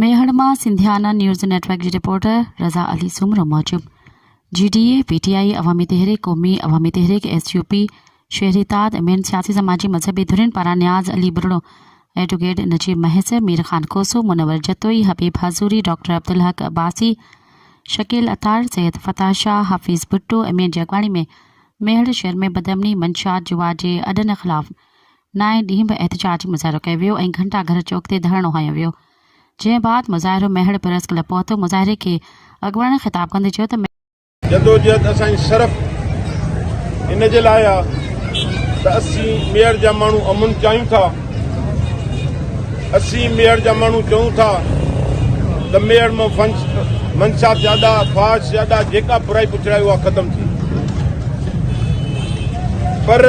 ميهڙ مان Sindhiana news network جي reporter Raza Ali Soomro موجب G D A, P T I, Awami Tehreek Qaumi, Awami Tehreek S U P, Shehri Ittehad ۽ ٻين سياسي سماجي مذهبي ڌرين پاران نياز علي ٻرڙو، ايڊوڪيٽ نجيب مهيسر، مير خان کوسو، منور جتوئي، حبيب حضوري، ڊاڪٽر عبدالحق عباسي، شڪيل عطار، سيد فتاح شاهه، حفيظ ڀٽو ۽ مين جي اڳواڻي ۾ ميهڙ شهر ۾ بدامني، منشيات، جوا جي اڏن خلاف نائين ڏينهن به احتجاجي مظاهرو ڪيو ويو ۽ گهنٽا گهر چوڪ تي ڌرڻو هنيو ويو جنهن بعد مظاهرو مهڙ پريس ڪلب پهتو مظاهري کي اڳواڻن خطاب ڪندي چيو ته جدوجهد اسان جي صرف ان جي لاء آ ته اسين ميڙ جا ماڻهو امن چاهيون ٿا اسين ميڙ جا ماڻهو چون ٿا ته ميڙ مان فنس منشا زياده فاش زياده جيڪا برائي پڇڙائي اها ختم ٿي پر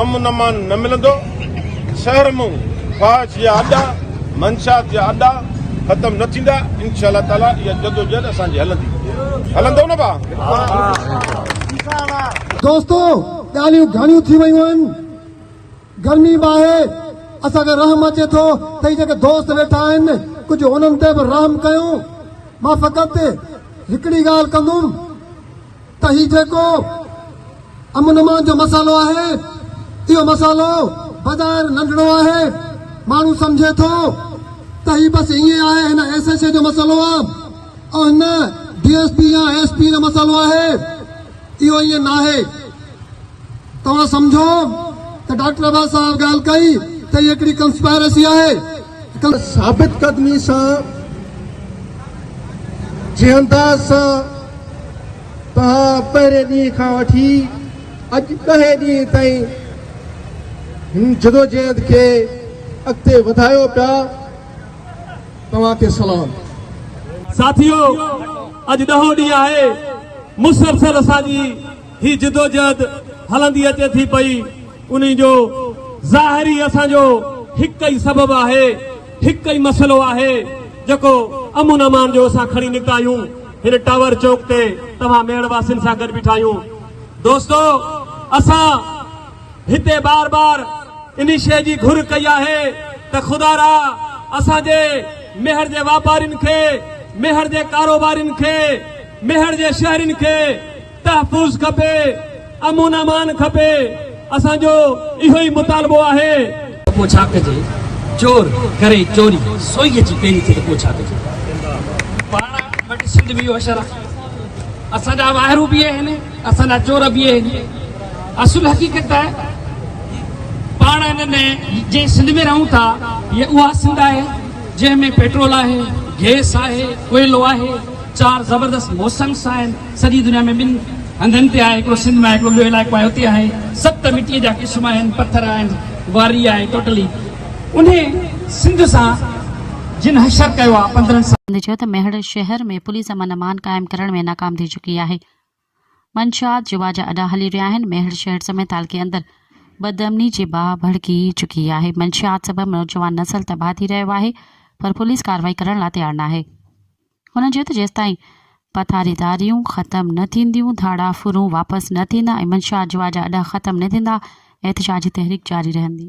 امن امان نه ملندو، شهر مون خواهش جا اڏا، منشات جا اڏا ختم نه ٿيندا، انشاء الله تعالي اها جدوجهد اسان جي هلندي، هلندو نه ڀا؟ دوستو ڳالهيون گهڻيون ٿي ويون آهن، گرمي به آهي، اسان کي رحم اچي ٿو ته هي جيڪي دوست ويٺا آهن ڪجهه انهن تي به رحم ڪيون، مان فقط هڪڙي ڳالهه ڪندم، ته هي جيڪو امن امان جو مسئلو آهي اهو مسئلو بظاهر ننڍڙو آهي ماڻهو سمجهي ٿو ته هي بس ائين آهي هن ايس ايس اي جو مسئلو آهي ۽ هن ڊي ايس پي يا ايس پي جو مسئلو آهي اهو ائين ناهي. توهان سمجهو ته ڊاڪٽر عباس صاحب ڳالهه ڪئي ته هي هڪڙي ڪنسپائرسي آهي. ثابت قدمي سان جنهن انداز سان توهان پهرين ڏينهن کان وٺي اڄ ڏهين ڏينهن تائين هن جدوجهد کي اڳتي وڌايو پيا توهان کي سلام. ساٿيو اڄ ڏهون ڏينهن آهي مسلسل اسان جي هي جدوجهد هلندي اچي ٿي پئي، انهي جو ظاهر ئي اسان جو هڪ ئي سبب آهي، هڪ ئي مسئلو آهي، جيڪو امن امان جو اسان کڻي نڪتا آهيون، هن ٽاور چوڪ تي توهان ميڙ واسين سان گڏ بيٺا آهيون. دوستو اسان هتي بار بار انهي شيء جي گهر ڪئي آهي ته خدا را اسان جي ميهڙ جي واپارين کي، ميهڙ جي ڪاروبارين کي، ميهڙ جي شهرين کي، تحفظ کپي، امن امان کپي، اسان جو اهو ئي مطالبو آهي. ته پوء ڇا ڪجي؟ چور ڪري چوري، سوئي اچي پيري ٿئي ته پوء ڇا ڪجي؟ پاڻ وٽ سنڌ به اهو حشر آهي، اسان جا واهرو به اهي آهن، اسان جا چور به اهي آهن. اصل حقيقت ته پاڻ ان ۾ جنهن سنڌ ۾ رهون ٿا، هيء اها سنڌ آهي، جنهن ۾ پيٽرول آهي، گئس آهي، ڪوئلو آهي، چار زبردست موسمس آهن، سڄي دنيا ۾ ٻن هنڌن تي آهي، هڪڙو سنڌ ۾ آهي، هڪڙو ٻيو علائقو آهي، اتي آهي. ست مٽيء جا قسم آهن، پٿر آهن، واري آهي، ٽوٽلي انهي سنڌ سان جن حشر ڪيو آهي، پندرهن سال. سنڌ چيو ته ميهڙ شهر ۾ پوليس امن امان قائم ڪرڻ ۾ ناڪام ٿي چڪي آهي، منشيات جوا جا اڏا هلي رهيا آهن، ميهڙ شهر سميت تعلقي اندر بدامني جي باهه ڀڙڪي چڪي آهي، منشيات سبب نوجوان نسل تباهه ٿي رهيو آهي پر پوليس ڪارروائي ڪرڻ لا تيار ناهي. هن چيو ته جيستائين پٿاريداريون ختم نه ٿينديون، ڌاڙا ڦرون واپس نه ٿيندا ۽ منشا جوا جا اڏا ختم نه ٿيندا، احتجاجي تحريڪ جاري رهندي.